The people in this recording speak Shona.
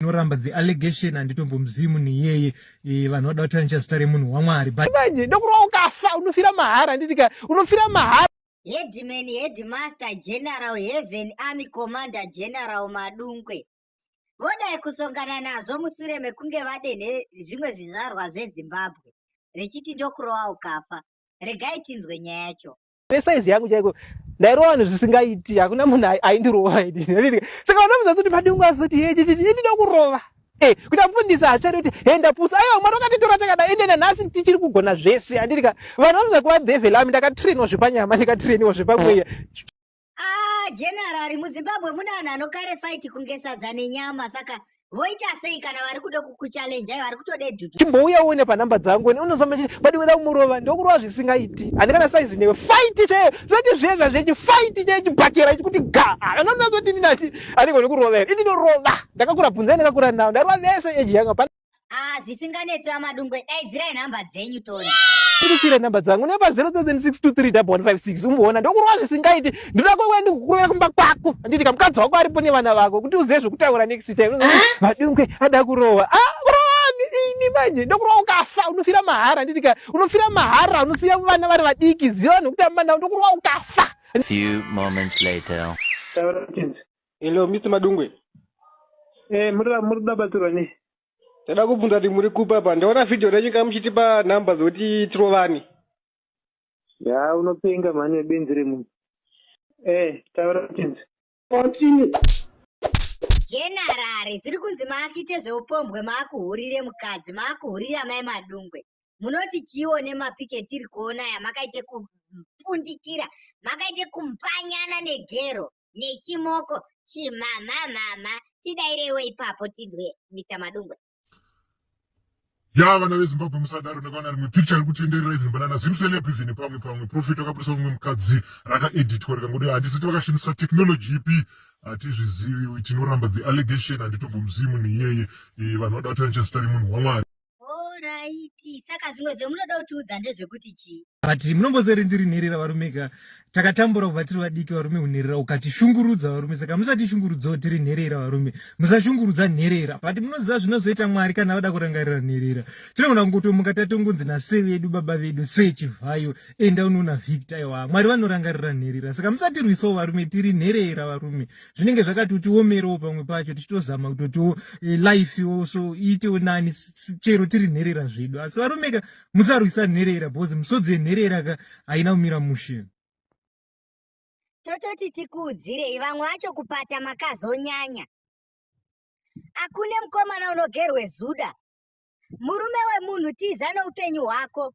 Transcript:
inoramba the allegation handitombomuzivi munhu iyeye e, vanhu vada kuti anocha zita remunhu wamwari manje ndokurwa ukafa unofira mahara nditika unofira mahara headman headmaster general heaven army commander general madungwe vodai kusongana nazvo mushure mekunge vadenhe zvimwe zvizvarwa zvezimbabwe vechiti ndokurova ukafa regai tinzwe nyaya yacho nesaizi yangu chaiko ndairova vanhu zvisingaiti hakuna munhu aindirova ini saka vana muzasi kuti madungu azoti ndinoda kurova eh, kuti amufundisa hatsvare kuti he ndapusa aiwa mwari wakatitora takada ende nanhasi tichiri kugona zvese handirika vanhu vanoza kuva dhevhel ami ndakatrainiwa zvepanyama ndikatrainiwa zvepamweya ah, generari muzimbabwe mune anhu anokare fight kunge sadza nenyama saka voita sei kana vari kuda kukuchallenja vari kutode dudu chimbouya uone panhamba dzangu ene unozomba chii but weda kumurova ndokurova zvisingaiti handi kana saizi newe fight chaiyo zvati zvezva zvechi fight chaiyo chibhakera ichikuti ga anonazoti ndinati anenge ndikurova here ini ndorova ndakakura bvunza ndakakura nawo ndarova vese eji yanga pa ah zvisinganetsi vamadungwe daidzirai nhamba dzenyu toni tirisire nhamba dzangu nepa 07623 156 umboona ndokurova zvisingaiti ndoda kwauya ndikukurova kumba kwako anditi kamukadzi wako aripo nevana vako kuti uzive zvekutaura next time ah! madungwe ada kurova ah, ini manje ndokurova ukafa unofira mahara anditi ka unofira mahara unosiya vana vari vadiki ziva vanhu vekutamba navo ndokurova ukafa few moments later hello mr madungwe eh muri muri kuda batsirwa nei ndada kubvunza kuti muri kupa pa ndaona video renyu ka muchitipa number dzekuti tirovane Yaa unopenga mhani webenzi remunhu. Eh, taura kutinzi. Continue. Generari zviri kunzi maakite zveupombwe maakuhurire mukadzi maakuhurire amai madungwe munoti chiiwo nemapiki etiri kuona aya makaite kupundikira makaite kumpanyana negero nechimoko chimhamhamhamha tidaireiwo ipapo tidwe mita madungwe ya vana vezimbabwe musadaro ndakaona rimwe picture iri kutenderera even banana zimseleb even pamwe pamwe profit akabudisa umwe mukadzi rakaeditwa rikangoda handisiti vakashandisa technology ipi hatizvizivi tinoramba the allegation handitombomuzivi munhu iyeye eh, vanhu vada vatana chazita remunhu wamwari oraiti saka zvimwe zvemunoda kutiudza ndezvekuti chii but munombozorindirinherera varume ka takatambura kubva tiri vadiki varume kunherera ukatishungurudza varume saka musatishungurudzawo tiri nherera varume musashungurudza nherera but munoziva zvinozoita mwari kana vada kurangarira nherera tinogona kungotomuka tatongonzi nase vedu baba vedu sechivhayo enda unoona victor iwa mwari vanorangarira nherera saka musatirwisawo varume tiri nherera varume zvinenge zvakatotiomerewo pamwe pacho tichitozama kutotiwo eh, life wo so iitewo nani chero tiri nherera zvedu asi varumeka musarwisa nherera bhozi misodzi yenherera ka haina kumira mushe tototi tikuudzirei vamwe vacho kupata makazonyanya akune mukomana unogerwe zuda murume wemunhu tiza neupenyu hwako